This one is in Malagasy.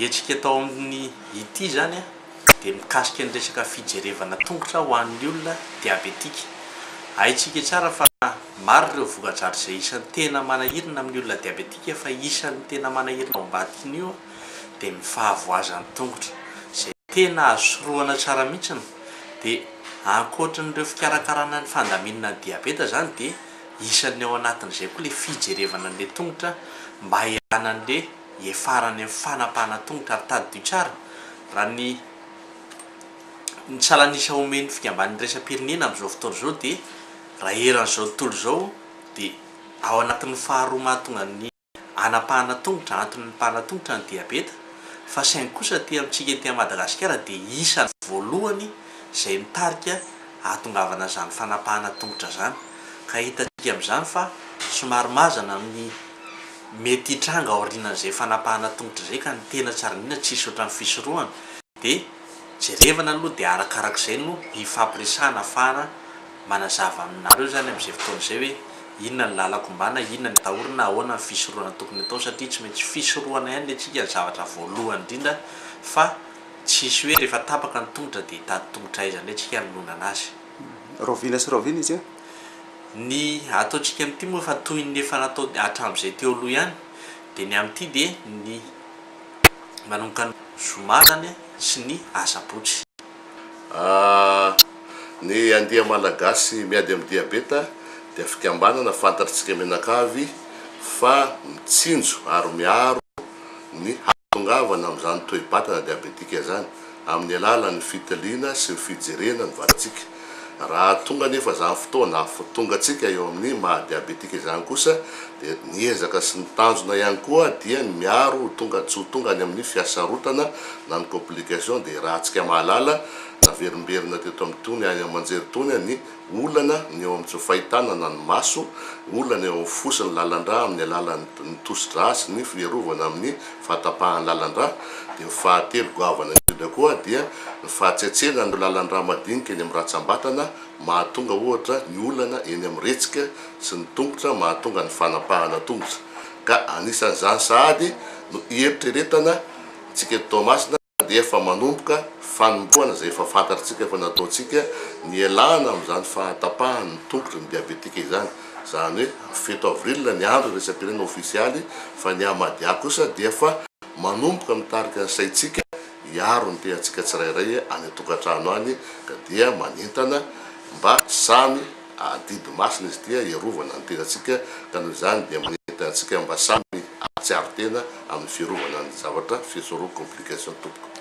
Hetsika atao amin'ny ity izany dia mikasika ny resaka fijerevana tongotra ho an'ny olona diabetika. Haintsika tsara fa maro ireo voka-dratsy izay isan'ny tena manahirana amin'ny olona diabetika fa isan'ny tena manahirana ao ambadikin'io dia ny fahavoazan'ny tongotra izay tena azo sorohana tsara mihitsy dia ankoatran'ireo fikarakarana ny fandaminana ny diabeta izany dia Isan'ny ao anatin'izay koa ilay fijerevana an'ilay tongotra mba hialana an'ilay hiafarany amin'ny fanapahana tongotra ary tady dio tsara, raha ny ny salan'isa omen'ny fikambanana iraisam-pirenena amin'izao fotoana izao dia raha eran'izao tontolo izao dia ao anatin'ny faharoa mahatonga ny. hanapahana tongotra, antony mipahana tongotra ny diabeta, fa saingy kosa aty amintsika ety Madagasikara dia isany voalohany izay mitarika ahatongavana izany fanapahana tongotra izany, ka hitantsika amin'izany fa somary mazana ny mety hitranga aorianan'izay fanapahana tongotra izay, ka ny tena tsy ary indrindra tsy hisy otran'ny fisorohana. de jerevana aloha de arakarak'izay no hifampiresahana afahana manazava aminareo zany am'izay fotoana zay hoe inona ny lalako ombana, inona ny atahorana, ahoana ny fisorohana tokony atao satria tsy maintsy fisorohana ihany le tsika ny zavatra voalohany indrindra fa tsisy hoe refa tapaka ny tongotra de hitady tongotra aiza ndray tsika anononana azy. Rahoviana sy rahoviana izy an! Ny ataontsika am'ity moa efa toy ny efa natao hatram'izay teo aloha ihany de ny am'ity de ny manomboka ny zoma zany sy ny asabotsy. A, Ny Andia Malagasy Miady Amin'ny Diabeta dia fikambanana fantatr'tsika mianakavy fa mitsinjo ary miaro ny hahatongavana amin'izany toe-batana diabetika izany amin'ny alalan'ny fitiliana sy ny fijerena ny vatantsika. Raha tonga anefa izany fotoana afotongantsika eo amin'ny maha diabetika izany kosa dia ny ezaka sy ny tanjona ihany koa dia ny miaro ho tonga tsy ho tonga any amin'ny fiasarotana na ny complication dia rahantsika mahalala naverimberina teto amin'itony any amanjery itony ny olana ny eo amin'ny tsy fahitana na ny maso olana eo amin'ny fo sy ny lalandrà amin'ny alalan'ny ny tosidrà sy ny fiarovana amin'ny fahatapahany lalan-drà, dia ny fahatelo goavana indrindra koa dia ny fahatsetsena an'ireo lalan-drà madinika eny amin'ny ratsam-batana mahatonga ohatra ny olana eny amin'ny retsika sy ny tongotra mahatonga ny fanapahana tongotra ka anisan'izany sahady no hieritreretana antsika eto Toamasina dia efa manomboka fanombohana izay efa fantatritsika fa nataontsika nialana amin'izany fahatapahan'ny tongotry ny diabetika izany, izany hoe fito avril ny andro iraisam-pirenena ofisialy fa ny Ahmadiyya kosa dia efa manomboka mitarika ny saintsika hiaro ny tenantsika tsirairay any an-tokantrano any ka dia manentana mba samy Adidy masina izy ity hiarovana ny tenantsika ka noho izany dia manentana antsika mba samy hahatsiaro tena amin'ny fiarovana ny zavatra, fiesoro complication tompoko.